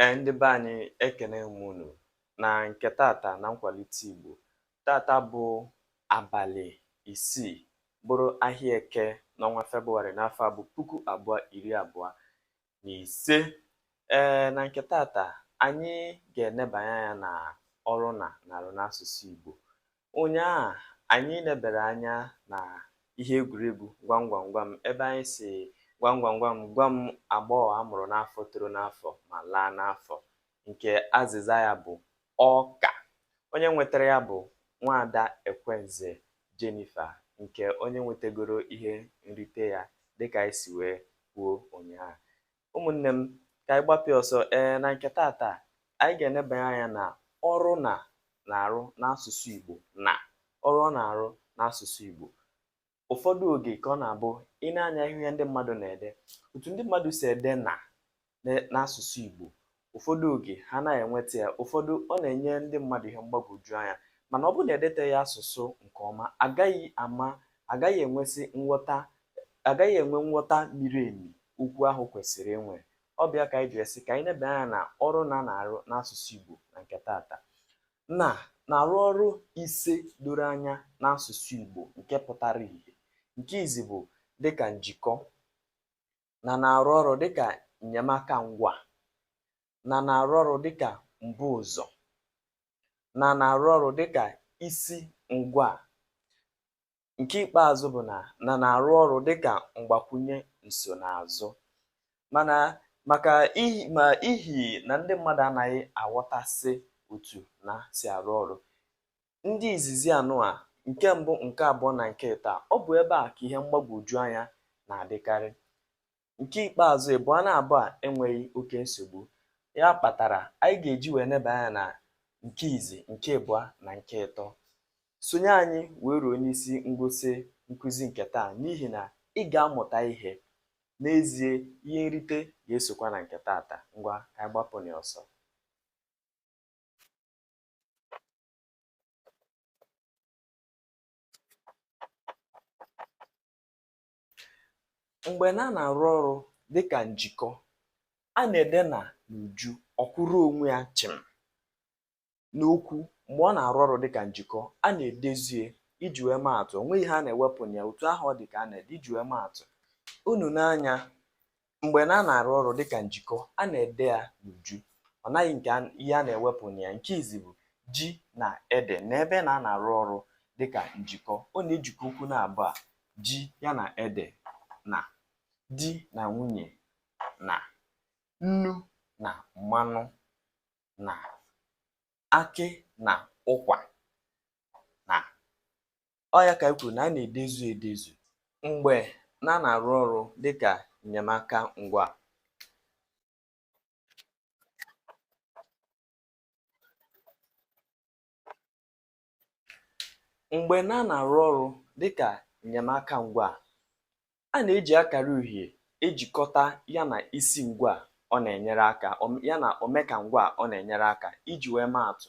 Ee, ndị be anyị ekene m unu na nke tata na nkwalite Igbo. Tata bụ abalị isii bụrụ ahịa eke n'ọnwa Febụwarị n'afọ a bụ puku abụọ iri abụọ na ise. Ee, na nke tata anyị ga-enebanye anya na ọrụ na na-arụ n'asụsụ Igbo. Ụnyaa anyị nebere anya na ihe egwuregwu gwam gwam gwam ebe anyị si gwam gwam gwam gwa m agbọghọ a mụrụ n'afọ toro n'afọ ma laa n'afọ nke azịza ya bụ ọka. Onye nwetara ya bụ nwaada Ekwenze Jennifer nke onye nwetagoro ihe nrite ya dịka anyị si wee kwuo ụnyaa. Ụmụnne m, ka anyị gbapịa ọsọ ee na nke tata anyị ga-enebanye anya na ọrụ na na-arụ n'asụsụ Igbo na ọrụ ọ na-arụ n'asụsụ Igbo ụfọdụ oge ka ọ na-abụ i nee anya ihe ndị mmadụ na-ede otu ndị mmadụ si ede na n'asụsụ Igbo Ụfọdụ oge, ha anaghị enweta ya. Ụfọdụ, ọ na-enye ndị mmadụ ihe mgbagwoju anya. Mana ọ bụrụ na edeteghị asụsụ nke ọma, a gaghị ama, a gaghị enwesị nghọta, a gaghị enwe nghọta miri emi okwu ahụ kwesịrị inwe. Ọ bụ ya ka anyị ji sị ka anyị nebe anya na ọrụ na na-arụ n'asụsụ Igbo na nke tata. Na na-arụ ọrụ ise doro anya n'asụsụ Igbo nke pụtara ihe. Nke izi bụ dịka njikọ, na na-arụ ọrụ dịka nnyemaka ngwaa na na-arụ ọrụ dịka mbuụzọ na na-arụ ọrụ dịka isingwaa. Nke ikpeazụ bụ na na na-arụ ọrụ dịka mgbakwunye nsonaazụ. Mana maka ihi ma ihi na ndị mmadụ anaghị aghọtasị otu na si arụ ọrụ, ndị izizi anụa nke mbụ nke abụọ na nke ịtọ ọ bụ ebe a ka ihe mgbagwoju anya na-adịkarị nke ikpeazụ ịbụa na-abụ a enweghị oke nsogbu ya kpatara anyị ga-eji wee neba anya na nke izi nke ịbụa na nke ịtọ sonye anyị wee ruo n'isi ngwụsị nkụzi nke taa n'ihi na ị ga-amụta ihe n'ezie ihe nrite ga-esokwa na nke taata ngwa ka anyị gbapụ n'ọsọ mgbe na na-arụ ọrụ dịka njikọ a na-ede na n'uju ọ kwụrụ onwe ya chịm n'okwu mgbe ọ na-arụ ọrụ dịka njikọ a na-edezie iji wee maa atụ o nweghị ihe a na-ewepụ na ya otu ahụ ọ dị ka a na-ede iji wee maa atụ unu nee anya mgbe na a na-arụ ọrụ dịka njikọ a na-ede ya n'uju o nweghị nke ihe a na-ewepụ na ya nke izizi bụ ji na ede na ebe na a na-arụ ọrụ dịka njikọ ọ na-ejikọ okwu na abụọ a ji ya na ede na di na nwunye na nnu na mmanụ na akị na ụkwa na ọ ya ka anyị kwuru na a na-edezu edezu mgbe na a na-arụ ọrụ dịka enyemaka ngwaa mgbe na a na-arụ ọrụ dịka enyemaka ngwaa a na-eji akara uhie ejikọta ya na isi ngwaa ọ na-enyere aka ya na omekangwaa ọ na-enyere aka iji wee maa atụ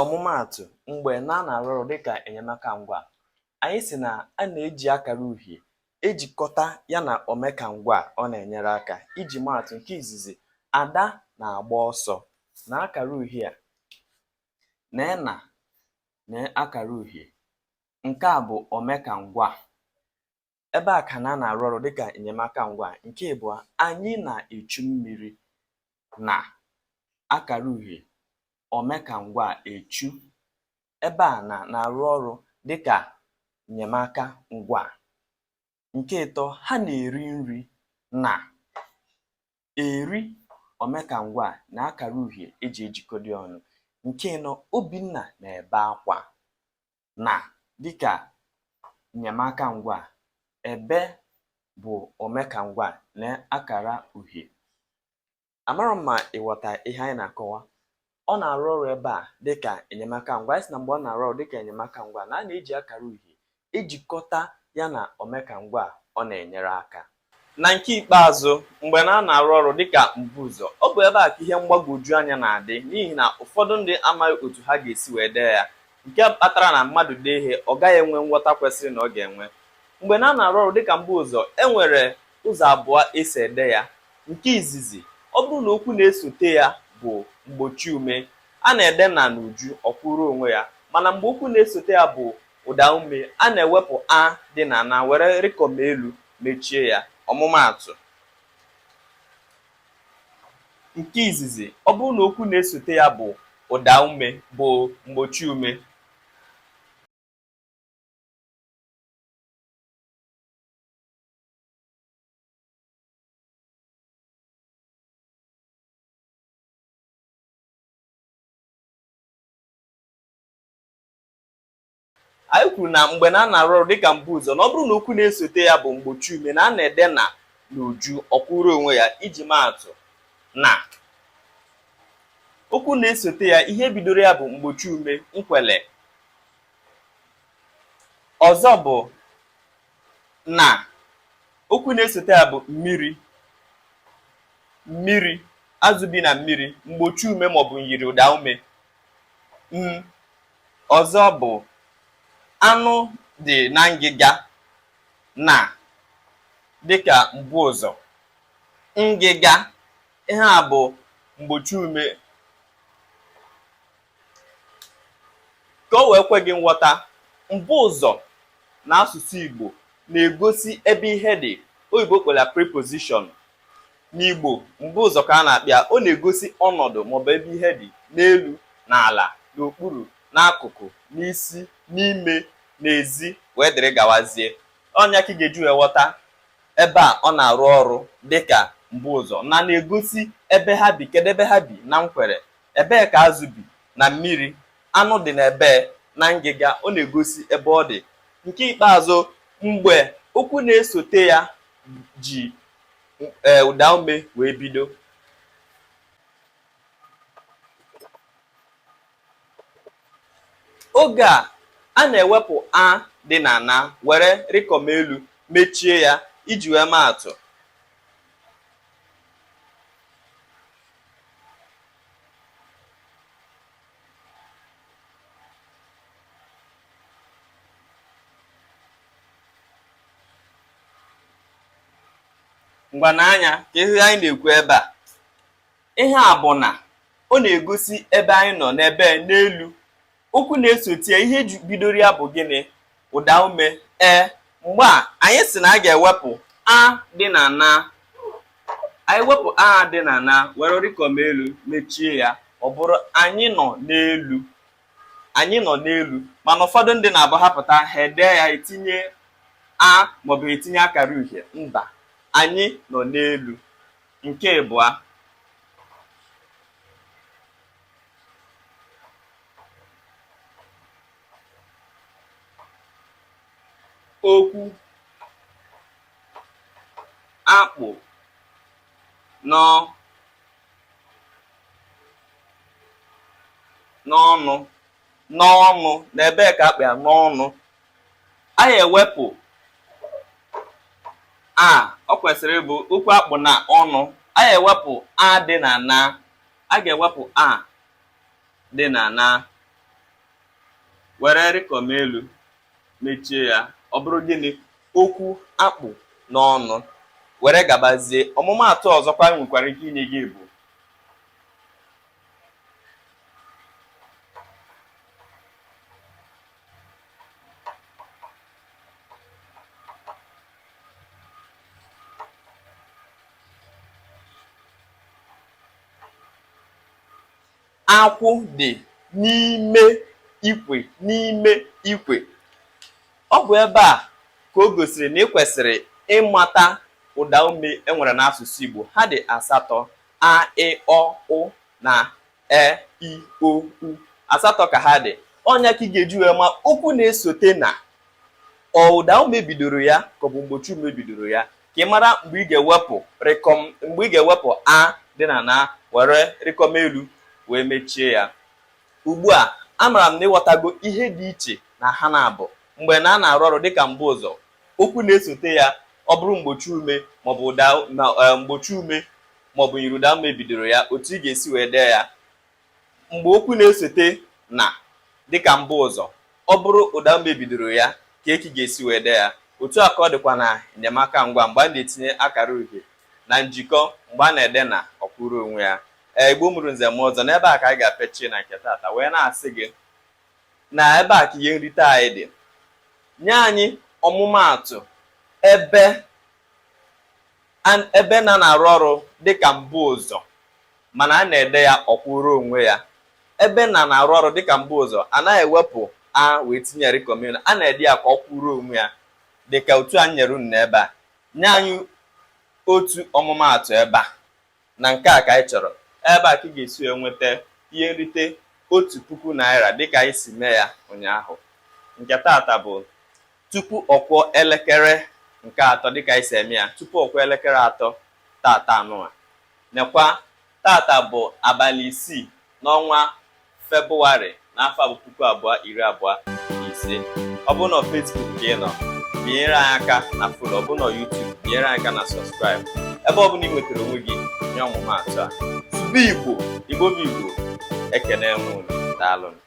Ọmụmaatụ, mgbe na a na-arụ ọrụ dịka enyemaka ngwaa, anyị sị na a na-eji akara uhie ejikọta ya na omekangwaa ọ na-enyere aka. Iji maa atụ, nke izizi, Ada na-agba ọsọ. Na akara uhie a, na e na na akara uhie. Nke a bụ omekangwaa. ebe a ka na a na-arụ ọrụ dịka enyemaka ngwaa nke ịbụọ anyị na-echu mmiri na akara uhie omekangwaa echu ebe a na na-arụ ọrụ dịka enyemaka ngwaa nke ịtọ ha na-eri nri na eri omekangwaa na akara uhie e ji ejikọdị ọnụ nke ịnọ obinna na-ebe akwa na dịka enyemaka ngwaa, ebe bụ omekangwaa na akara uhie. Amarọ m ma ị ghọta ihe anyị na-akọwa. Ọ na-arụ ọrụ ebe a dịka enyemaka ngwaa. Anyị sị na mgbe ọ na-arụ ọrụ dịka enyemaka ngwaa na a na-eji akara uhie ejikọta ya na omekangwaa ọ na-enyere aka. Na nke ikpeazụ, mgbe na a na-arụ ọrụ dị ka mbuụzọ, ọ bụ ebe a ka ihe mgbagwoju anya na-adị n'ihi na ụfọdụ ndị amaghị otu ha ga-esi wee dee ya, nke kpatara na mmadụ dee ihe, ọ gaghị enwe nghọta kwesịrị na ọ ga-enwe. Mgbe na a na-arụ ọrụ dị ka mbuụzọ, e nwere ụzọ abụọ e si ede ya. Nke izizi, ọ bụrụ na okwu na-esote ya bụ mgbochiume, a na-ede na n'uju, ọ kwụrụ onwe ya. Mana mgbe okwu na-esote ya bụ Ụdaume a na-ewepụ a dị na na were rịkọm elu mechie ya. Ọmụmaatụ, Nke izizi, ọ bụrụ na okwu na-esote ya bụ ụdaume bụ mgbochiume. anyị kwuru na mgbe na a na-arụ ọrụ dịka mbu ụzọ na ọ bụrụ na okwu na-esote ya bụ mgbochi ume na a na-ede na n'uju ọ kwụrụ onwe ya iji maa atụ na okwu na-esote ya ihe bidoro ya bụ mgbochi ume nkwele ọzọ bụ na okwu na-esote ya bụ mmiri mmiri azụ bi na mmiri mgbochi ume maọbụ myiri ụda ume m Ọzọ bụ anụ dị na ngịga na dịka mbu ụzọ. Ngịga, ihe a bụ mgbochi ume ka o wee kwe gị nghọta, mbu ụzọ n'asụsụ Igbo na-egosi ebe ihe dị. Oyibo kpọrọ ya preposition. N'Igbo, mbu ụzọ ka a na-akpọ ya, ọ na-egosi ọnọdụ maọbụ ebe ihe dị, n'elu, n'ala, n'okpuru, n'akụkụ, n'isi, n'ime, n'ezi, wee dịrị gawazie. Ọ nya ka ị ga-eji wee ghọta ebe a ọ na-arụ ọrụ dị ka mbu ụzọ na na-egosi ebe ha bi, kedu ebe ha bi na Nkwere, ebee ka azụ bi na mmiri, anụ dị na ebee na ngịga, ọ na-egosi ebe ọ dị. Nke ikpeazụ, mgbe okwu na-esote ya ji ee ụda ume wee bido oge a a na-ewepụ a dị na na were rịkọm elu mechie ya iji wee maa atụ ngwa nee anya ka ihe anyị na-ekwu ebe a ihe a bụ na ọ na-egosi ebe anyị nọ n'ebee n'elu okwu na-esote ya ihe ju- bidoro ya bụ gịnị ụda ume ee mgbe a anyị sị na a ga-ewepụ a dị na na anyị wepụ a dị na na were rịkọm elu mechie ya ọ bụrụ anyị nọ n'elu anyị nọ n'elu mana ụfọdụ ndị na-abụ ha pụta ha ede ya etinye a maọbụ etinye akara uhie mba anyị nọ n'elu nke ịbụa okwu a kpụ n'ọ n'ọnụ n'ọnụ na ebee ka a kpụ ya n'ọnụ anyị ewepụ a ọ kwesịrị ịbụ okwu a kpụ na ọnụ anyị ewepụ a dị na na a ga-ewepụ a dị na na were rịkọm elu mechie ya ọ bụrụ gịnị okwu a kpụ n'ọnụ were gabazie ọmụmaatụ ọzọkwa nwekwara ike inye gị bụ Akwụ dị n'ime ikwe n'ime ikwe. Ọ bụ ebe a ka o gosiri na ị kwesịrị ịmata ụda ume e nwere n'asụsụ Igbo. Ha dị asatọ, a, ị, ọ, ụ na e, i, o, u. Asatọ ka ha dị. Ọ ya ka ị ga-eji wee ma okwu na-esote na ọ ụda ume bidoro ya ka ọ bụ mgbochi ume bidoro ya ka ị mara mgbe ị ga-ewepụ rịkọm mgbe ị ga-ewepụ a dị na na were rịkọm elu wee mechie ya ugbu a amara m na ịghọtago ihe dị iche na ha naabọ mgbe na a na-arụ ọrụ dịka mbuụzọ okwu na-esote ya ọ bụrụ mgbochi ume maọbụ ụda na eh, mgbochi ume maọbụ myiri ụda ume bidoro ya otu ị ga-esi wee dee ya mgbe okwu na-esote na dịka mbuụzọ ọ bụrụ ụda ume bidoro ya kee ka ị ga-esi wee dee ya otu a ka ọ dịkwa na enyemaka ngwaa mgbe a na-etinye akara uhie na njikọ mgbe a na-ede na ọ kwụrụ onwe ya ee igbo mụrụ nze mụọ ọzọ n'ebe a ka anyị ga-apịachi na nke taata wee na-asị gị na ebe a ka ihe nrite anyị dị nye anyị ọmụmaatụ ebe ebe na na-arụ ọrụ dịka mbuụzọ mana a na-ede ya ọ kwụrụ onwe ya ebe na na-arụ ọrụ dịka mbuụzọ a naghị ewepụ a wee tinye rịkọm elu a na-ede ya ka ọ kwụrụ onwe ya dịka otu a nyere unu ebe a nye anyị otu ọmụmaatụ ebe a na nke a ka anyị chọrọ ebe a ka ị ga-esi enweta ihe nrite otu puku naira dịka anyị si mee ya ụnyaahụ nke taata bụ tupu ọ kụọ elekere nke atọ dịka anyị si eme ya tupu ọ kụọ elekere atọ taata anụwa Nekwa, taata bụ abalị isii n'ọnwa Febụwarị n'afọ a bụ puku abụọ iri abụọ na ise. Ọ bụrụ na Facebook ka ị nọ, binyere anyị aka na follow. Ọ bụrụ na YouTube, binyere anyị aka na subscribe. Ebe ọ bụla ị nwetara onwe gị nye ọmụma atụ a. Sụbe Igbo, Igbo bụ Igbo, ekene m unu. Daalụnụ.